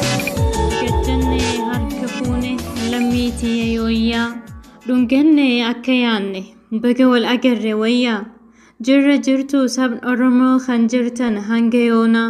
Gajjanne harka fuune lammii tiyya yooyyaa dhunganne akka yaanne baga wal agarre wayyaa jirra jirtu sabni Oromoo kan jirtan hanga yoonaa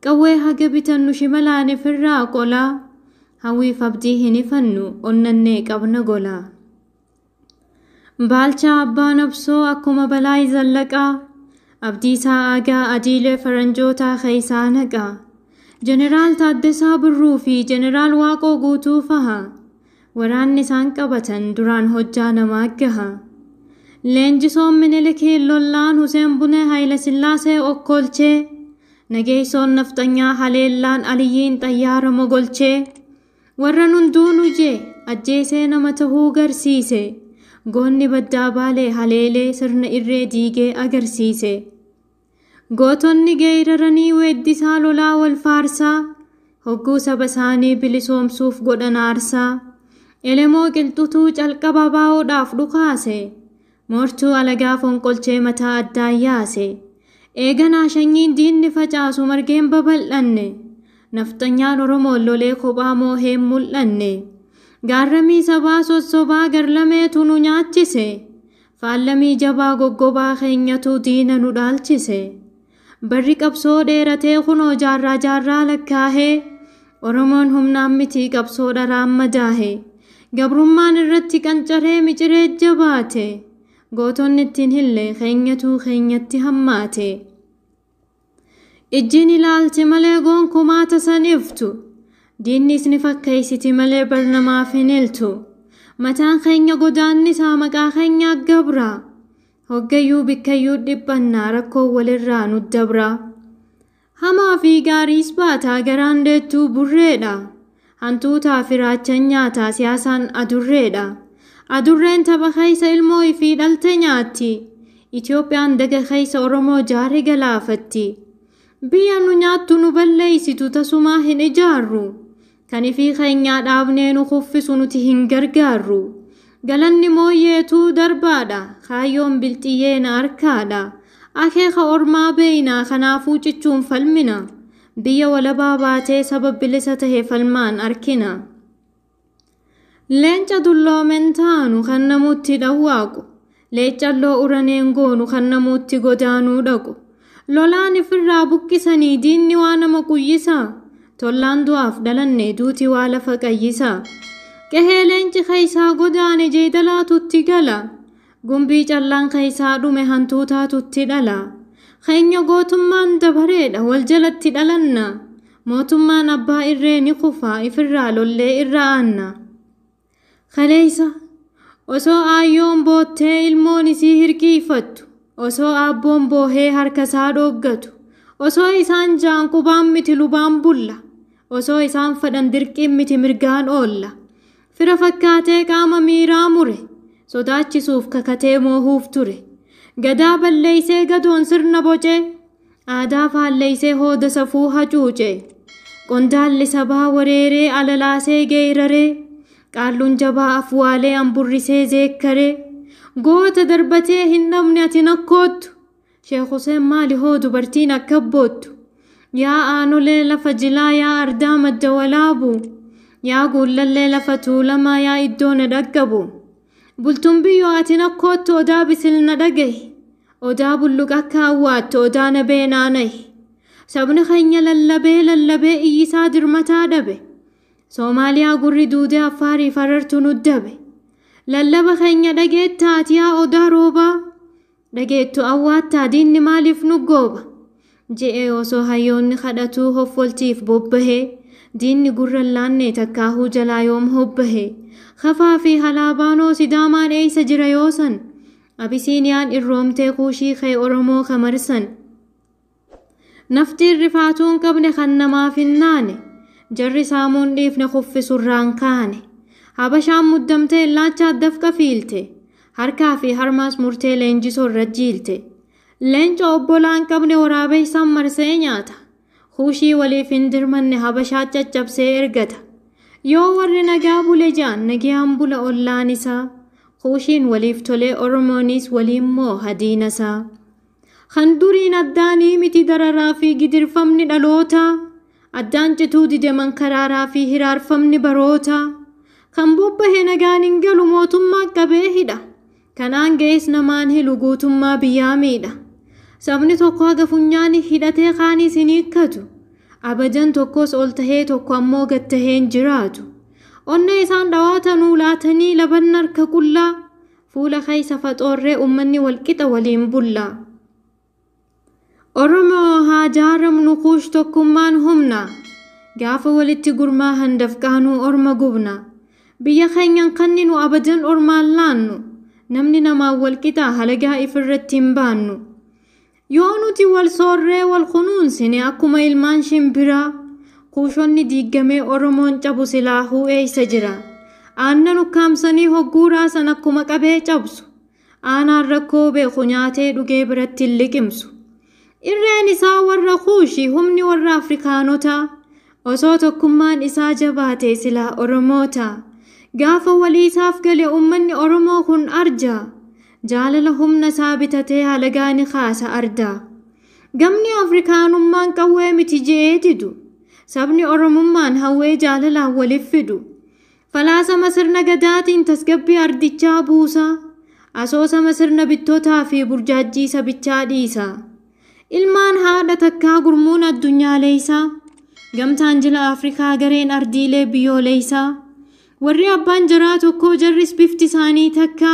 Qawwee haga bitannu shimalaan firraa qolaa, Hawwiif abdii hin hifannu onnannee qabna golaa. Baalchaa Abbaa Nabsoo akkuma Balaay Zallaqaa, Abdiisaa Aagaa adiilee faranjootaa keessaa naqaa. Jeneraal Taaddasaa Birruu fi Jeneraal Waaqoo Guutuu faha, Waraanni isaan qabatan duraan hojjaa namaa gaha. Leenjisoon Minilikii lollaan Huseen Bunee Hayilasillaasee okkolchee, nageessoon nafxanyaa haleellaan Aliyyiin xayyaara mogolchee, warran hunduu nu jee ajjeesee nama tahuu garsiise, goonni baddaa baalee haleelee sirna irree diigee agarsiise. Gootonni geeyraranii weeddisaa lolaa wal faarsaa Hogguu saba isaanii bilisoomsuuf godhan aarsaa Elemoo qilxutuu calqaba abaa'oodhaaf dhukaase Moortuu alagaa fonqolchee mataa addaan yaase Eeganaa shanyiin diinni facaasu margeen babal'anne Nafxanyaan Oromoon lolee kophaa mooheen mul'anne Gaarramii sabaa sossobaa garlameetu nu nyaachise Faallamii jabaa goggobaa keenyatu diina nu dhaalchise. Barri qabsoo dheeratee kunoo jaarraa jaarraa lakkaahee, Oromoon humnaan miti qabsoo dharaan madaahe. Gabrummaan irratti qancaree miciree jabaate. Gootonni itti hin hille keenyatu keenyatti hammaate. Ijjiin ilaalte malee gonkumaa tasan iftu. Diinni isni fakkeeysiti malee bar namaaf hin iltu. Mataan keenya godaannisaa maqaa keenya aggabra. Hoggayyuu bikkayyuu dhiphanna rakkoon walirraa nu dabra. Hamaa fi gaariis baataa garaan deettuu burreedha. Hantuutaa fi raachan nyaataa siyaasaan adurreedha. Adurreen tapha keessa ilmoo ifii dhalte nyaatti. Itoophiyaan daga keessa Oromoo jaare galaafatti. Biyya nu nyaattu nu balleeysitu tasumaa hin ijaarru. Kan ifii keenyaa dhaabnee nu kuffisu nuti hin gargaarru. Galanni mooyyeetu darbaadha. Kaayyoon bilxiyyee na arkaadha. Akeeka ormaa beeynaa kanaafuu cichuun falmina. Biyya walabaa baatee saba bilisa tahe falmaan arkina. Leenca dulloomen taanu kan namuutti dhawwaaqu. Leeccalloo uraneen goonu kan namuutti godaanuu dhaqu. Lolaan ifirraa buqqisanii diinni waa nama quyyisa. Tollaan du'aaf dhalanne duuti waa lafa qayyisa. Qehee leenci keessaa godaane jeedalaatutti gala. Gumbii callaan keessaa dhume hantuutaatutti dhala. Keenya gootummaan dabareedha wal jalatti dhalanna. Mootummaan abbaa irree ni kufa ifirraa lollee irra aanna. Kaleessa osoo aayyoon boottee ilmoon isii hirkiifattu, osoo aabboon boohee harkasaa dhooggatu, osoo isaan jaan qubaan miti lubaan bulla, osoo isaan fedhan dirqiin miti mirgaan oolla. Fira fakkaatee qaama miiraa mure. Sodaachisuuf kakatee moohuuf ture. Gadaa balleeysee gadoon sirna bocee. Aadaa faalleeysee hooda safuu hacuucee. Qondaalli sabaa wareeree alalaasee geeyraree. Qaalluun jabaa afwaalee amburrisee zeekkaree. Goota darbatee hin dhabne ati nakkoottu. Sheek Huseen maali hoo dubartiin akka boottu? Yaa aanolee lafa jilaa yaa ardaa madda walaabuu yaa guullallee lafa tuulamaa yaa iddoo na dhaqqabu bultuun biyyoo ati na koottu odaa bisil na dhagahi odaa bulluq akka awwaattu odaa na bee naanahi sabni keenya lallabee lallabee iyyisaa dirmataa dhabe soomaaliyaa gurri duudee affaarii farartu nuddabe lallaba keenya dhageettaati yaa odaa roobaa Dhageettu awwaattaa diinni maaliif nu gooba? je'ee osoo hayyoonni kadhatuu hoffolti'iif bobbahee, diinni gurra hin laannee takkaahuu jalaa yoom hobbahe? Kafaa fi Halaabaanoo Sidaamaan eeysa jira yoo san? Abisiiniyaan irroomtee Kuushii kee Oromoo ka marsan. Naftiin rifaatuu hin qabne kan namaaf hin naane, jarri saamuu hin dhiifne kuffisu irraan kaane. Habashaan muddamtee illaachaat dafqa fiilte, harkaa fi harmaas murtee leenjisoo irra jiilte. Leenca obbolaa hin qabne waraabeessaan marsee nyaata. Kuushii waliif hin dirmanne habashaat caccabsee ergata. Yoo warri nagaa bule ja'an nagiyaan bula ollaan isaa. Kuushiin waliif tolee Oromoonis waliin mooha diina isaa. Kan duriin addaanii miti dararaa fi gidirfamni dhaloota Addaan cituu dide mankaraaraa fi hiraarfamni baroota Kan bobbahe nagaan hin galu mootummaan qabee hidha Kan aanga'es namaan hilu guutummaa biyyaa miidha Sabni tokko haga funyaani hidhatee kaaniis hin hiikkatu Abajan tokkos ol tahee tokko ammoo gad tahee hin jiraatu Onnee isaan dhawaatanuu laatanii labanna harka qullaa Fuula keessa faxoorree ummanni walqixa waliin bulla. Oromoo haa jaaramnu kuush tokkummaan humna. Gaafa walitti gurmaahan dafqaanuu orma gubna. Biyya keenyan kanninu abadan ormaan laannu. Namni namaan walqixaa halagaa ifirratti hin baannu. Yoo nuti wal soorree wal kunuunsine akkuma ilmaan shimbiraa kuushonni diiggamee Oromoon cabu silaahuu eeysa jira? Aannan ukkaamsanii hogguu raasan akkuma qabee cabsu. Aanaan rakkoo beeku nyaatee dhugee biratti hin liqimsu. Irreen isaa warra kuushi humni warra Afrikaanotaa. Osoo tokkummaan isaa jabaate silaa Oromoota. Gaafa waliisaaf gale uummanni Oromoo kun arja. Jaalala humna isaa bitatee halagaa ni kaasa ardaa. Gamni Afrikaanummaan qawwee miti je'ee didu. Sabni Oromummaan hawwee jaalalaan waliif fidu. Falaasama sirna gadaatiin tasgabbii ardichaa buusa. Asoosama sirna bittotaa fi burjaajjii sabichaa dhiisa. Ilmaan haadha takkaa gurmuun addunyaaleeysaa. Gamtaan jila Afrikaa gareen ardiilee biyyooleeysaa. Warri abbaan jaraa tokkoo jarris bifti isaanii takka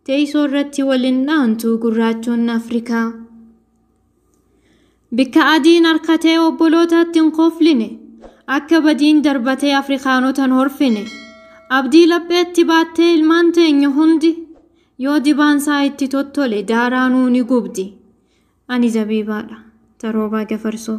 teeysoo irratti walin dhaantu gurraachoonni Afrikaa. Bikka adiin arkatee obbolootatti hin kofline, akka badiin darbatee Afrikaanota hin horfine. Abdii lapheetti baattee ilmaan teenya hundi yoo dibaan isaa itti tottole daaraa nuu ni gubdi. Ani zabiibaadha. Taroobaa Gafarsoo.